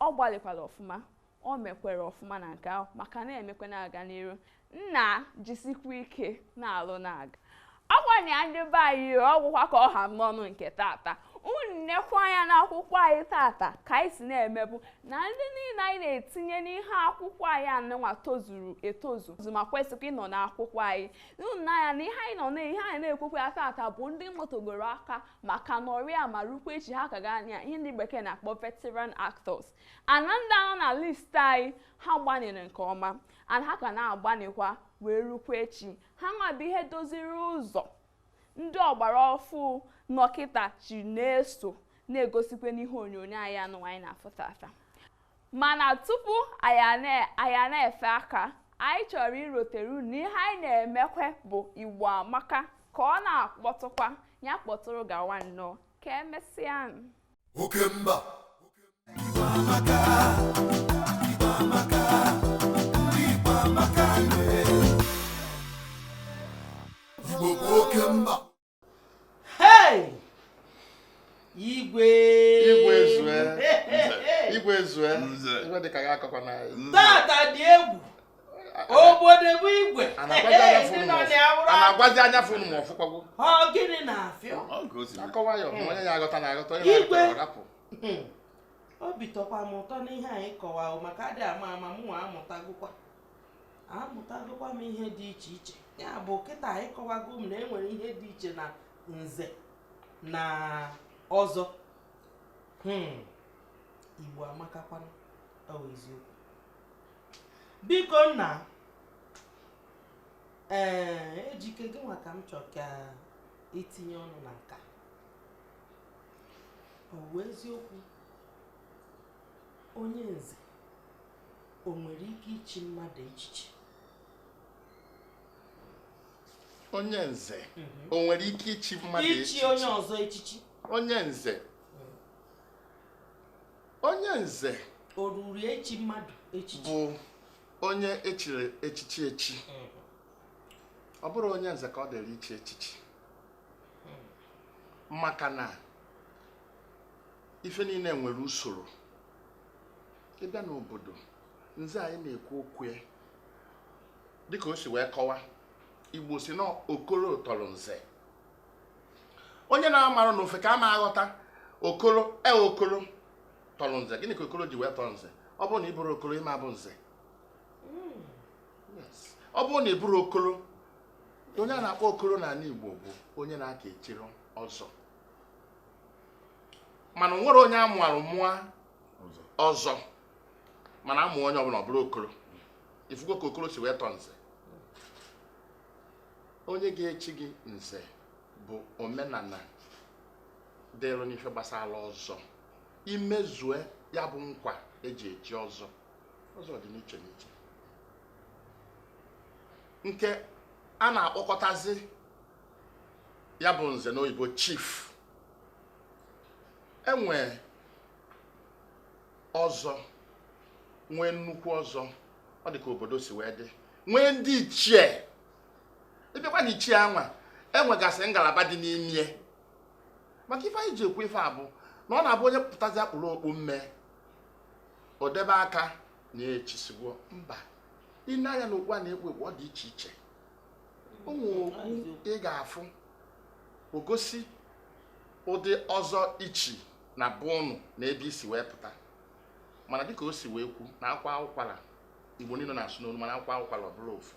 ọ gbalịkwara ọfụma o mekwere ọfụma na nke ahụ ma ka na-emekwe na-aga n'iru nna jisikwa ike na-alụ na-aga ọkwa na ya ndị be anyị ọgwụkwa ka ọ ha m n'ọnụ nke tata unu nekwa anya n'akwụkwọ anyị tata ka anyị si na-emebu na ndị niile anyị na-etinye n'ihe akwụkwọ anyị anụnwa tozuru etozu ma kwesịkwa ịnọ n'akwụkwọ anyị unu n'anya na ihe anyị nọ na ihe anyị na-ekwukwa ya tata bụ ndị nọtegoro aka ma ka nọrịa ma rukwa echi ha ka ga anya ihe ndị bekee na-akpọ veteran actors and ndị a nọ na list anyị ha gbanịrị nke ọma and ha ka na-agbanịkwa wee rukwa echi ha nwa bụ ihe doziri ụzọ ndị ọgbara ọfụụ nọ kịta ji na-eso na-egosikwa n'ihe onyonyo anyị anụnwa anyị na-afụ tata mana tupu anyị na-efe aka anyị chọrọ irotere unu na ihe anyị na-emekwe bụ Igbo Amaka ka ọ na-akpọtụkwa ya kpọtụrụ gawa nnọọ ka emesịa oke mba na-agwazi anya fụ ma ọ fụkwago gịnị na-afịọ akọwa ya onye ya aghọta na aghọta onye na-arapụ hmm. obi tọkwa m ụtọ n'ihe anyị kọwa maka adị ama ama m nwa amụtagokwa amụtagokwa m ihe dị iche iche ya bụ kịta anyị kọwago m na e nwere ihe dị iche na nze na ọzọ hmm. Igbo amakakwanụ ọ bụ eziokwu biko nna ee Ejike gị nwa ka m chọ ka i tinye ọnụ na nka ọ bụ eziokwu onye nze o nwere ike ichi mmadụ echichi onye nze mhm. o nwere ike ichi mmadụ echichi ichi onye ọzọ echichi onye nze onye nze o ruru echi mmadụ echichi bụ onye echiri echichi echi mhm. ọ bụrụ onye nze ka ọ dịrị ichi echichi maka na ife niile nwere usoro ịbịa n'obodo nze anyị na-ekwu okwu ya dịka o si wee kọwa igbo si na okoro tọrọ nze onye na-amarọ n'ofeke ama aghọta okoro e okoro tọrọ nze gịnị ka okoro ji wee tọrọ nze ọ bụrụ na ị bụrụ okoro ịma abụ nze ọ bụrụ na ị bụrụ okoro onye a na-akpọ okoro n'anị Igbo bụ onye na-aka echiro ọzọ mana o nwero onye amụarụ mụa ọzọ mana amụa onye ọbụla ọ bụrụ okoro ifugo ka okoro si wee tọ nze onye ga-echi gị nze bụ omenala dịrụ n'ife gbasara ọzọ imezue ya bụ nkwa eji echi ọzọ ọzọ dị n'iche n'iche nke a na-akpọkọtazi ya bụ nze na oyibo chief enwe ọzọ nwee nnukwu ọzọ ọ dị ka obodo si wee dị nwee ndị ichie ịbịakwa na ichie anwa enwegasị ngalaba dị n'ime ya maka ife anyị ji ekwu ife a bụ na ọ na-abụ onye pụtazịa kpuru okpu mme odebe aka na echisiwo mba i nee anya na okpu a na-ekpu ekpu ọ dị iche iche o nwee okpu ị ga-afụ ogosi ụdị ọzọ ichi na be ụnụ na ebe isi wee pụta mana dịka o si wee kwu na akwa ụkwara igbo niile na-asụ n'olu mana akwa ụkwara ọ bụrụ ofu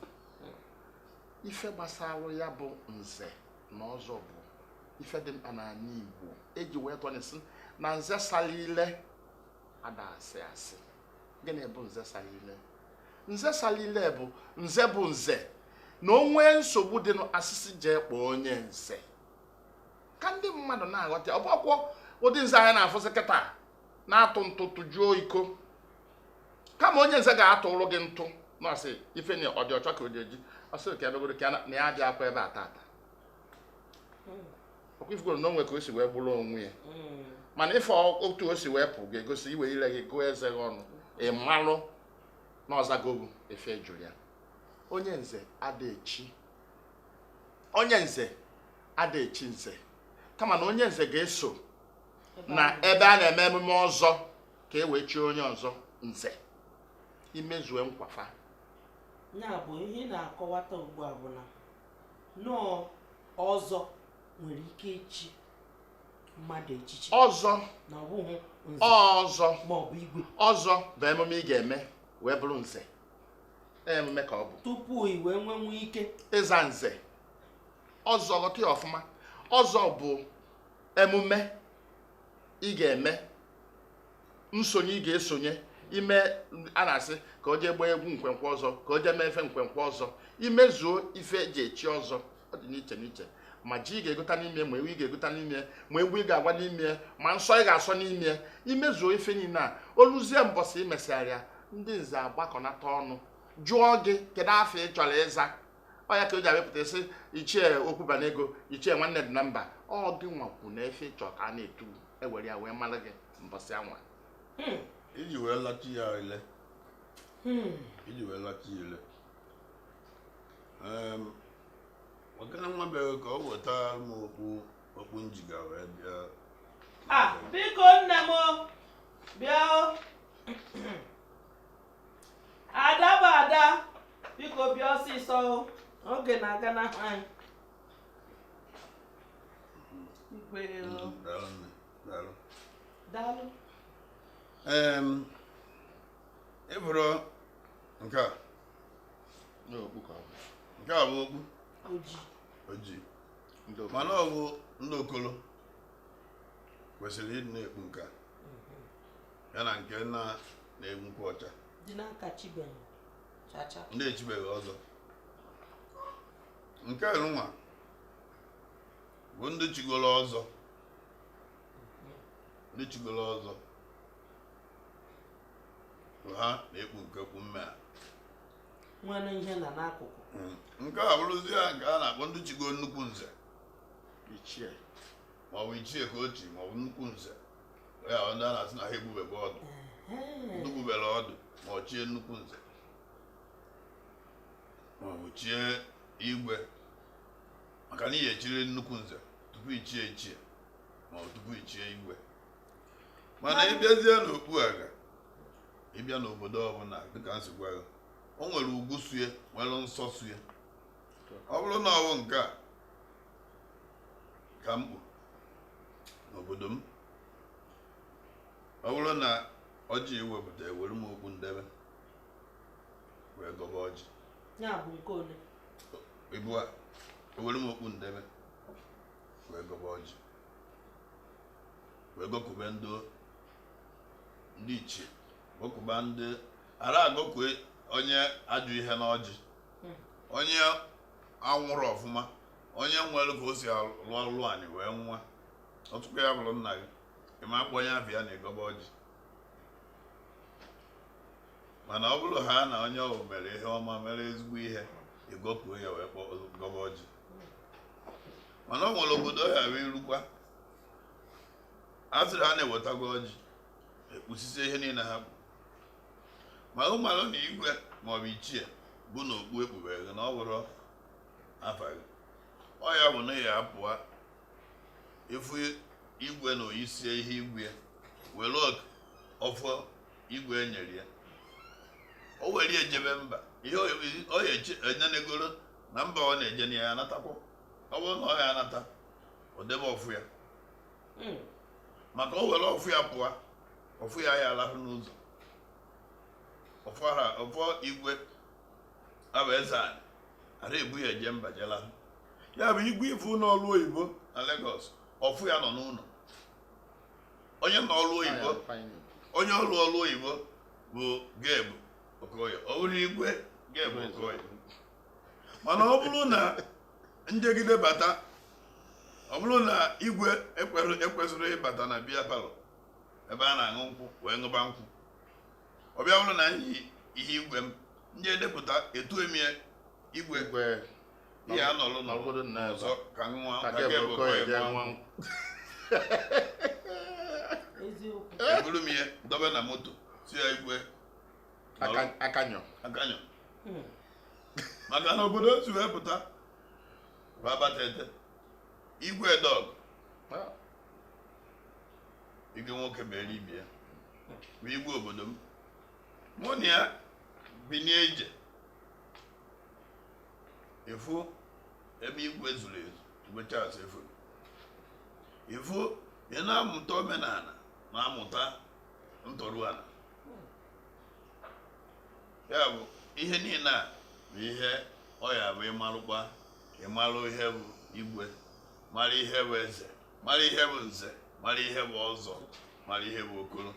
ife gbasara ya bụ nze na ọzọ bụ ife dị mkpa n'anị igbo eji wee tụọ inu sị na nze sara ile ada asị asị gịnị bụ nze sara ile nze sara ile bụ nze bụ nze na o nwee nsogbu dịnụ asị sị jee kpọọ onye nze ka ndị mmadụ na-aghọta ọ bụrọkwa ụdị nze anyị na-afụzi kịta na-atụ ntụ tụjuo iko kama onye nze ga-atụụrụ gị ntụ na ọsị ife na ọ dị ọcha ka o ji eji ọsị ka ebegoro ka na ya dị akwa ebe a tata ọkwa ị fugoro na o nwe ka o si wee gburu onwe ya mm. mana ife otu o si wee pụ ga-egosi i we ire gị gụọ eze gị ọnụ ị malụ na ọ zago gụ efe ị jụrụ ya onye nze ada echi onye nze ada echi nze kama na onye nze ga-eso na ebe a na-eme emume ọzọ ka e wee chie onye ọzọ nze i mezue nkwafa ya bụ ihe na-akọwata ugbu a bụ na nọọ ọzọ nwere ike ichi mmadụ echichi ọzọ na ọ bụghị nze ọzọ ma ọ bụ igwe ọzọ bụ emume ị ga-eme wee bụrụ nze emume ka ọ bụ tupu i wee nwenwu ike ịza nze ọzọ ghọta ya ọfụma ọzọ bụ emume ị ga-eme nsonye ị ga-esonye ime a na-asị ka o jee gbaa egwu nkwenkwe ọzọ ka o jee mee efe nkwenkwe ọzọ i mezuo ife e ji echi ọzọ ọ dị n'iche n'iche ma ji ị ga-egota n'ime ma ewu ị ga-egota n'ime ma egwu ị ga-agba n'ime ma nsọ ị ga-asọ n'ime i mezuo ife niile a o luzie mbọsị i mesịgharịa ndị nze agbakọnata ọnụ jụọ gị kedu afa ị chọrọ ịza ọ ya ka o ji abịapụta sị ichie okwubanego ichie nwanne dị na mba ọ gị nwa kwu na efe ị chọ ka a na-etu e were ya wee mara gị mbọsị anwa hmm. i ji wee lachi ya ile hmm. i ji wee lachi ya ile ọgana nwa bịara ka o weta m okpu okpu m jiga wee bịa ah, biko nne m bịa ada bụ ada biko bịa ọsịsọ oge na-aganahụ anyị daalụ ị bụrụ nke a nke a bụ okpu ojii mana ọ bụ ndị okolo kwesịrị ịdị na-ekpu nke a ya na nke na na-egbu nkwụ ọcha ndị echibeghị ọzọ nke nwa bụ ndị chigoro ọzọ ndị chigoro ọzọ bụ ha na-ekpu nke okpu mme a nwere ihe na n'akụkụ nke a bụrụzi ya nke a na-akpọ ndị chigo nnukwu nze ichie maọbụ ichie ka o chi maọbụ nnukwu nze ya bụ ndị a na-asị na ha ebubebe ọdụ ndị bubere ọdụ ma o chie nnukwu nze maọbụ chie igwe maka na ị ya-echiriri nnukwu nze tupu i chie ichie ma ọ tupu i chie igwe mana ịbịazie n'okpu aga ịbịa n'obodo ọbụla dịka m si gwa gị o nwere ugwu so ya nwere nsọ so ya ọ bụrụ na ọwụ nke a ka m kpu n'obodo m ọ bụrụ na ọjị ewepụta ewere m okpu m debe wee gọba ọjị ya bụ nke ole ebu a ewere m okpu m debe wee gọba ọjị wee gọkube ndị ndị ichie gọkuba ndị ara agọkue onye ajọ ihe n'ọjị hmm. onye nwụrụ ọfụma onye nwere ka o si alụ ọlụ anyị wee nwa ọtụkọ ya bụrụ nna gị ị ma akpọ onye afụ na ịgọba ọjị mana ọ bụrụ ha na onye ọwụ mere ihe ọma mere ezigbo ihe ị gọkuo ya wee kpọọ gọba ọjị mana o nwere obodo ị ya-erukwa a sịrị ha na-ewetago ọjị ekpusisie ihe niile ha bụ ma ị malụ na igwe maọbụ ichie bụ na okpu ekpubere gị na ọ bụrụ afa gị ọ ya bụ na ya apụọ ịfụ igwe na oyisie ihe igwe were ọfọ igwe enyere ya o were ya jebe mba ihe o ya enenegoro na mba ọ na-eje na ya anatakwa ọ bụrụ na ọ ya anata o debe ọfọ ya hmm. maka o were ọfọ ya pụọ ọfọ ya ya alahụ n'ụzọ ọfọ ha ọfọ igwe abụ eze anyị ara ebu ya eje mba jela ya bụ igwe ị fụ n'ọrụ oyibo na Lagos ọfọ ya nọ n'ụlọ onye nọ ọrụ oyibo onye ọrụ ọrụ oyibo bụ Gabe Okoye ọ bụrụ igwe Gabe Okoye mana ọ bụrụ na m jegide bata ọ bụrụ na igwe ekwesịrọ ịbata na beer parlour ebe a na-aṅụ nkwụ wee ṅụba nkwụ ọ bịa bụrụ na ihe igwe m m ji edepụta etu emie igwe ihe a nọrọ na obodo nna ọzọ ka nwa ka gị bụ kọ ya nwa eburu m ihe dobe na moto si ya igwe akanyọ akanyọ hmm. maka na obodo o si wee pụta babatete igwe dog ah. igwe nwoke bụ eribie bụ igwe obodo m mụ na ya binie ije ịfụ ebe igwe zuru ezu igwe Charles efuru ịfụ ị na-amụta omenala na-amụta ntọrụala ya bụ ihe niile a bụ ihe ọ ya bụ ịmalụkwa ịmalụ ihe bụ igwe mara ihe bụ eze mara ihe bụ nze mara ihe bụ ọzọ mara ihe bụ okoro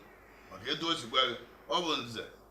maka etu o sikwa gị ọ bụ nze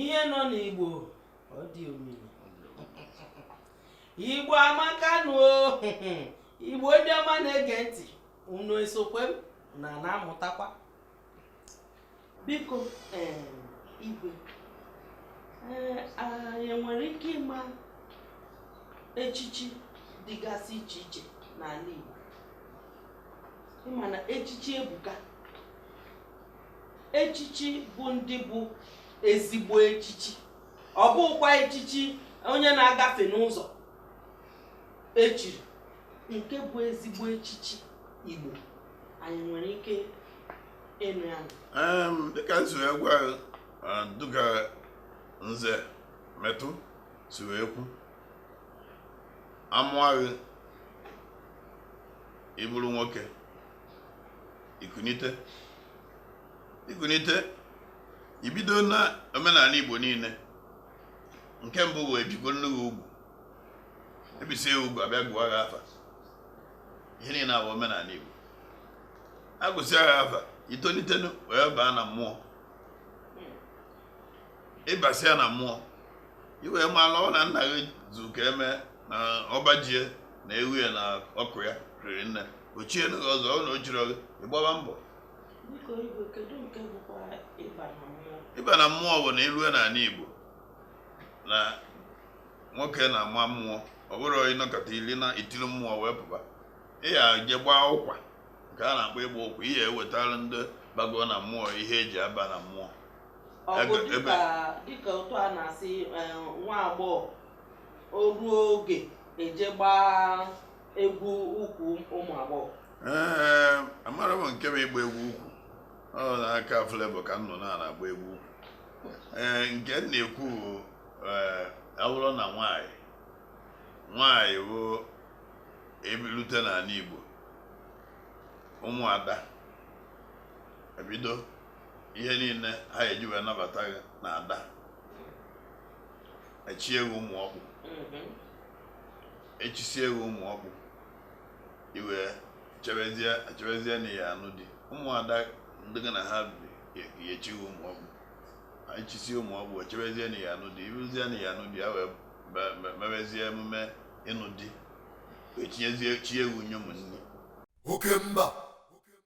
ihe nọ n'igbo ọ dị omimi igbo amaka nụ igbo ndị ọma na-ege ntị unu esokwe m na na-amụtakwa biko igwe anyị nwere ike ịma echichi dịgasị iche iche n'ala igbo ịma na echichi ebuka echichi bụ ndị bụ ezigbo echichi ọ bụkwa echichi onye na-agafe n'ụzọ echiri nke bụ ezigbo echichi Igbo anyị nwere ike ịnụ ya dịka nso ya gwa dịka nze metụ si wee kwu amụa gị ị bụrụ nwoke ikunite ikunite ibido na omenala igbo niile nke mbụ wee bikwo nne gị ugwu ebisie ugwu abịa gụa gị afa ihe niile abụ omenala igbo agụsịa gị afa itolitenu wee baa na mmụọ ịbasịa na mmụọ iwee malụ na nna gị zu ka eme na ọba ji e na ewu ya na ọkụ ya riri nne ochie na gị ọzọ ọ na ochiri gị ịgbaba mbọ Biko igwe kedu nke bụkwa ịba na mmụọ? ịba na mmụọ bụ na ilue n'ala igbo na nwoke na-ama mmụọ ọ bụrụ ịnọkata ili na itili mmụọ wee pụba ị ya je gbaa ụkwa nke a na-akpọ ịgba ụkwa ị ya ewetara ndị bago na mmụọ ihe eji aba na mmụọ Ọ bụ Ebe- ebe- dịka dịka otu a na-asị eh, nwa agbọghọ o ruo oge eje gbaa egwu ukwu ụmụ agbọghọ ee amara m nke bụ ịgba egwu ukwu ọ n'aka Flavour ka m nụ na agba egwu ukwu ee nke m na-ekwu bụ ee awụrụ na nwanyị nwanyị bụ ebilute n'ala Igbo ụmụada ebido ihe niile ha eji wee nabata gị na ada echi ewu ụmụ ọkpụ echisie gị ụmụ ọkpụ i wee chebezie chebezie na ya anụ di ụmụada ndị gị na ha bi ga-echi gị ụmụ ọkpụ echisie ụmụ ọkpụ echebezie na ya anụ di iruzie na ya anụ di ya wee be- be- mebezie emume ịnụ di wee tinyezie chi ewu nye ụmụnne oke mba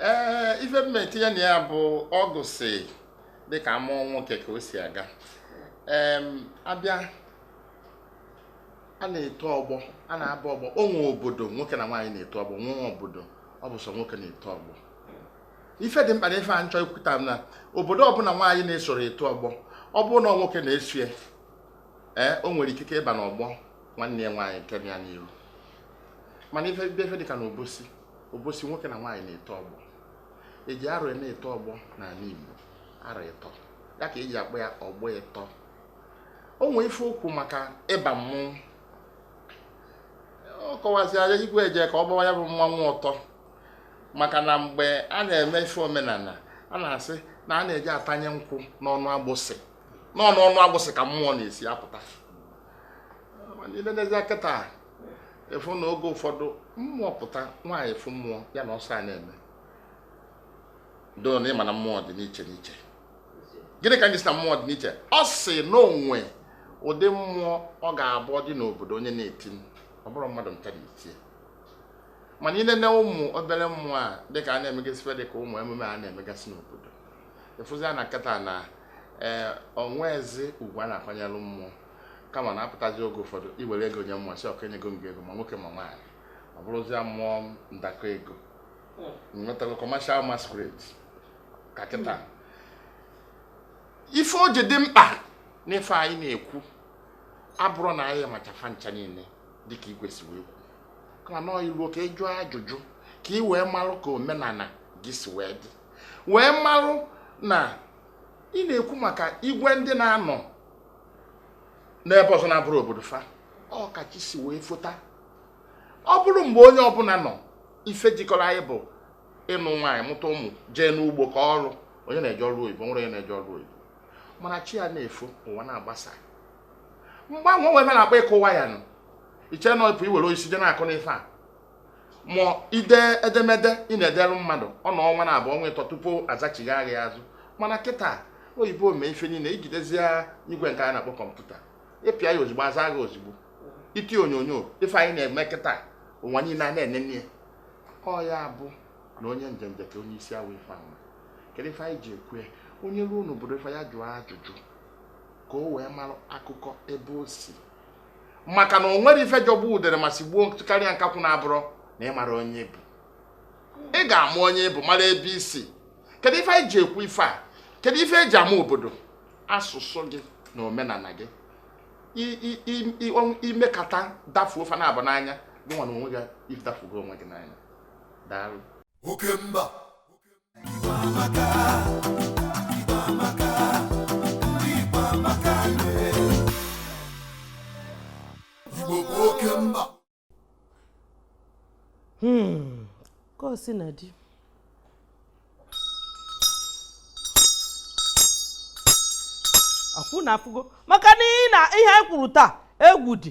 ee eh, ife m etinye na ya bụ ọgụ si dịka mmụọ nwoke ka o si aga abịa a na-eto ọgbọ a na-aba ọgbọ o nwee obodo nwoke na nwaanyị na-eto ọgbọ nwee obodo ọ bụ sọ nwoke na-eto ọgbọ ife dị mkpa na ife a m chọ ikwuta bụ na obodo ọbụla nwaanyị na-esoro eto ọgbọ ọ bụrụ na nwoke na-eso ya ee eh, o nwere ikike ịba n'ọgbọ nwanne ya nwaanyị nke ya n'iru mana ife bịa ife dịka na Obosi Obosi nwoke na nwaanyị na-eto ọgbọ eji arọ na-eto ọgbọ n'ala Igbo arọ ịtọ ya ka eji akpọ ya ọgbọ ịtọ o nwee ife o kwu maka ịba mmụọ ọ kọwazia ya igwe eje ka ọ gbawa ya bụ mmanwụ ọtọ maka na mgbe a na-eme ife omenana a na-asị na a na-eji atanye nkwụ n'ọnụ agbụsị n'ọnụ ọnụ agbụsị ka mmụọ na-esi apụta mana i lenezia kịta ị fụ na oge ụfọdụ mmụọ pụta nwaanyị fụ mmụọ ya na ọsọ a na-eme though na ị ma na mmụọ dị n'iche n'iche gịnị ka m ji sị na mmụọ dị n'iche ọ sị na o nwe ụdị mmụọ ọ ga-abụ dị n'obodo onye na-eti ọ bụrụ mmadụ ncha na-etie mana ị nene ụmụ obere mmụọ a dịka a na-emegasị ife dịka ụmụ emume a na-emegasị n'obodo ị fụzia na kịta na ee eh, o nweezi ugwu a na-akwanyere mmụọ kama na-apụtazi oge ụfọdụ i were ego nye mmụọ sị okay enyego m gị ego ma nwoke ma nwaanyị ọ bụrụzie mmụọ ndakọ ego nwetago commercial masquerade ka kịta ife o ji dị mkpa n'ife anyị na-ekwu abụrọ na anyị machaa fa ncha niile dịka igwe si wee kwu kama na i luo ka ị jụọ ajụjụ ka ị wee marụ ka omenana gị si wee dị wee marụ na ị na-ekwu maka igwe ndị na-anọ n'ebe ọzọ na-abụrọ obodo fa ọ ka chi si wee fota ọ bụrụ mgbe onye ọbụla nọ ife jikọrọ anyị bụ ịnụ nwaanyị mụta ụmụ jee n'ugbo kọọ ọrụ onye na-eje ọrụ oyibo nwere onye na-eje ọrụ oyibo mana chi ya na-efo ụwa na-agbasa mgbanwe o nwe ebe na-akpa ịkụwa ya nụ iche na ọpụ i were osisi je na-akụ n'ife a ma ide edemede ị na-edere mmadụ ọ nọọ ọnwa naabọ ọnwa ịtọ tupu azachigha gị azụ mana kịta oyibo mee ife niile ijidezie igwe nke a na-akpọ kọmputa ịpịa ya ozigbo a zaa gị ozigbo iti onyonyo ife anyị na-eme kịta ụwa niile a na-enene ya ọ ya bụ na onye njenje ka onye isi awọ ife ahụ kedu ife anyị ji ekwu onye ruo n'obodo ife ya jụọ ajụjụ ka o wee mara akụkọ ebe o si maka na o nwere ife jọgbu udere ma sigbuo karịa nkakwụ na-abụrụ na ị mara onye ị bụ ị ga-ama onye ị bụ mara ebe i si kedu ife anyị ji ekwu ife a kedu ife e ji ama obodo asụsụ gị na omenala gị imekata dafuo ife naabọ n'anya gị nwa na onwe gị idafugo onwe gị n'anya daalụ okemba Hmm, ka o si na di akwụ na afụgo maka na ihe anyị kwuru taa egwu dị